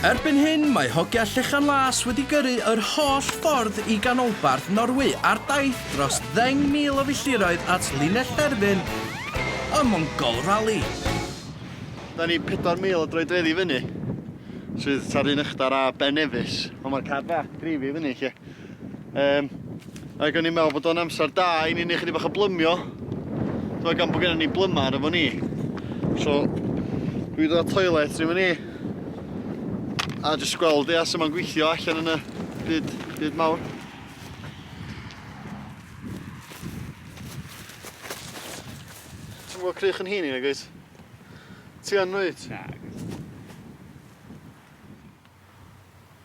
Erbyn hyn, mae Hogia Llechan Las wedi gyrru yr holl ffordd i ganolbarth Norwy ar daith dros ddeng mil o filltiroedd at linell derfyn y Mongol Rally. Da ni 4,000 o droedfeddi i fyny, sydd tua'r un ychdar â Ben Nevis, ond mae'r car bach yn dreifio i fyny 'lly. Um, ac o'n i'n meddwl bod o'n amser da i ni'n ei chydig bach o blymio. Dwi'n gan bod gennym ni blymar efo ni. So, dwi ddod toilet ni efo ni. A jyst gweld ia sy'n ma'n gweithio allan yn y byd, byd mawr. Ti'n gweld crych yn hyn i nag oes? Ti yn oed? Na.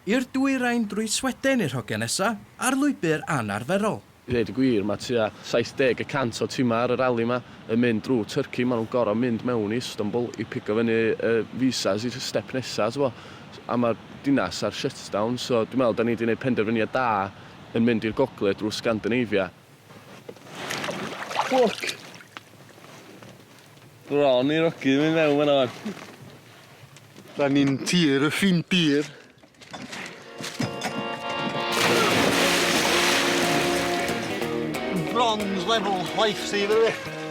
I'r dwyrain drwy Sweden i'r hogiau nesa, ar lwybr anarferol. I ddeud y gwir, mae tua 70 y cant o timau ar y rali yma yn mynd drwy Turkey, maen nhw'n gorfod mynd mewn i Istanbul i pigo fyny y visas i'r step nesa, tibod, a mae'r dinas ar shutdown, so dwi'n meddwl dan ni 'di 'neud penderfyniad da yn mynd i'r gogledd drwy Scandinavia. Ffwc! Bron i'r ogyn mynd mewn fan 'na ŵan. Da ni'n tir y ffin dir. Bronze level life saver fi.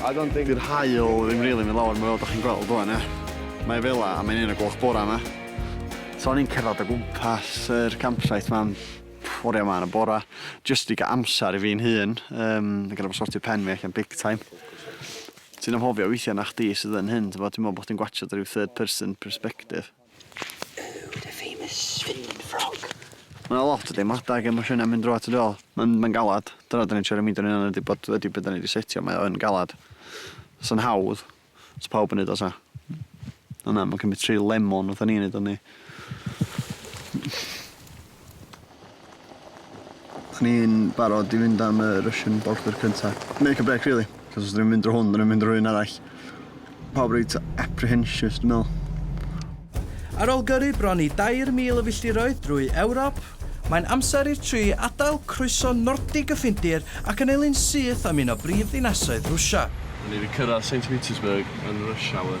I don't think... Di'r haul ddim rili mynd lawr fel dach chi'n gweld wan ia. Mae fela a mae'n un o gloch bora ma. So o'n i'n cerddad o gwmpas yr campsite ma am oria ma yn y bora jyst i ga'l amsar i fi'n hun yym i ga'l sortio pen fi allan big time. Ti'n anghofio weithia na chdi sydd yn hyn t'bod dwi me'wl bo' chdi'n gwatsiad ryw third person perspective. Ooh, the famous spinning frog. Ma' 'na lot o deimlada ag emosiyna mynd drwodd ti dwel. Ma'n ma'n galad. Dyna 'dan ni'n trio remindio'n hunan ydi bod wedi be' 'dan ni 'di setio mae o yn galad. Sa'n hawdd sa pawb yn neud o sa. On' na ma'n cymryd tri lemon fatha ni'n neud o yndi? O'n i'n barod i fynd am y Russian bolter cynta. Make a break really, cos os 'dyn ni'n mynd drwy hwn, 'dyn ni'n mynd drwy un arall. Pawb reit apprehensious dwi'n meddwl. Ar ôl gyrru bron i 2,000 o filltiroedd drwy Ewrop, mae'n amser i'r tri adael croeso Nordig y Ffindir ac annelu'n syth am un o brif ddinasoedd Rwsia. Ni wedi cyrraedd Saint Petersburg yn rush hour.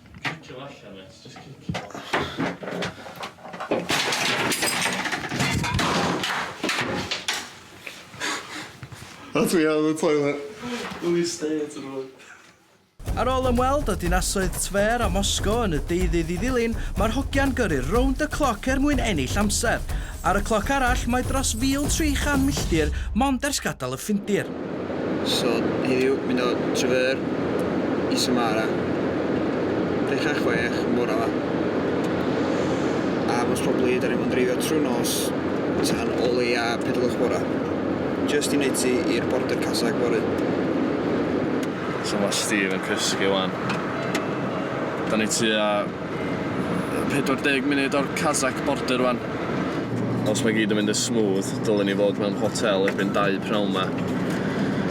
Cicio fo allan, mêt. Jyst cicio fo. A dwi ar y toilet. Ww, you stay at the road. Ar ôl ymweld â dinasoedd Tver a Moscow yn y deuddydd i ddilyn, mae'r hogia'n gyrru rownd y cloc er mwyn ennill amser. Ar y cloc arall, mae dros 1,300 milltir mond ers gadael y Ffindir. So heddiw mynd o Trever i Samara. Dechra chwech yn bora ma. A most probably da ni fod yn dreifio trwy nos tan o leia pedlwch bora. Just i wneud ti i'r border casag fory. So ma Steve yn cysgu wan. Da ni tua 40 munud o'r Kazakh border rwan. Os mae gyd yn mynd yn smooth, dylen ni fod mewn hotel erbyn dau pnawn 'ma.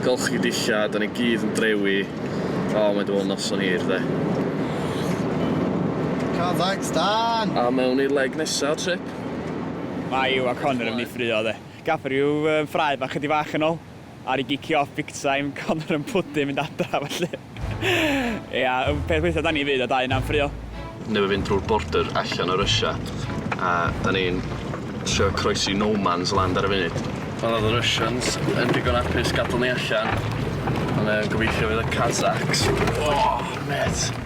Golchi dillad, 'dan ni gyd yn drewi. O, mae 'di bod yn noson hir, 'de. Kazakhstan! A mewn i'r leg nesa o'r trip. Mae Yw a Conor yn mynd i ffruo, 'de. Gaffer yw fy ffrae bach chydig fach yn ol. Ar i gicio off big time, Conor yn pwdin mynd adra felly ia y peth witha da ni fyd a dau yna yn ffrio. newydd fynd drwy'r border allan o Russia a 'dan ni'n trio croesi no man's land ar y funud. Ond oedd y Russians yn digon apus gadal ni allan ond yy gobeithio fydd y Kazakhs, oh mate!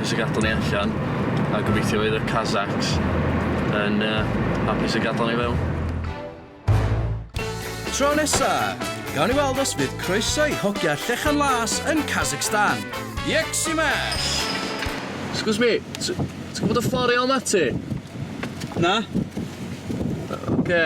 Hapus y gadael ni allan a gobeithio fydd y Kazakhs yn hapus y gadael ni fewn. Tro nesa! Gawn ni weld os fydd croeso i hogia Llechan Las yn Kazakhstan! Yxymash! Excuse me, ti ti'n gwybod y ffordd i ôl Mati? Na. Ocê.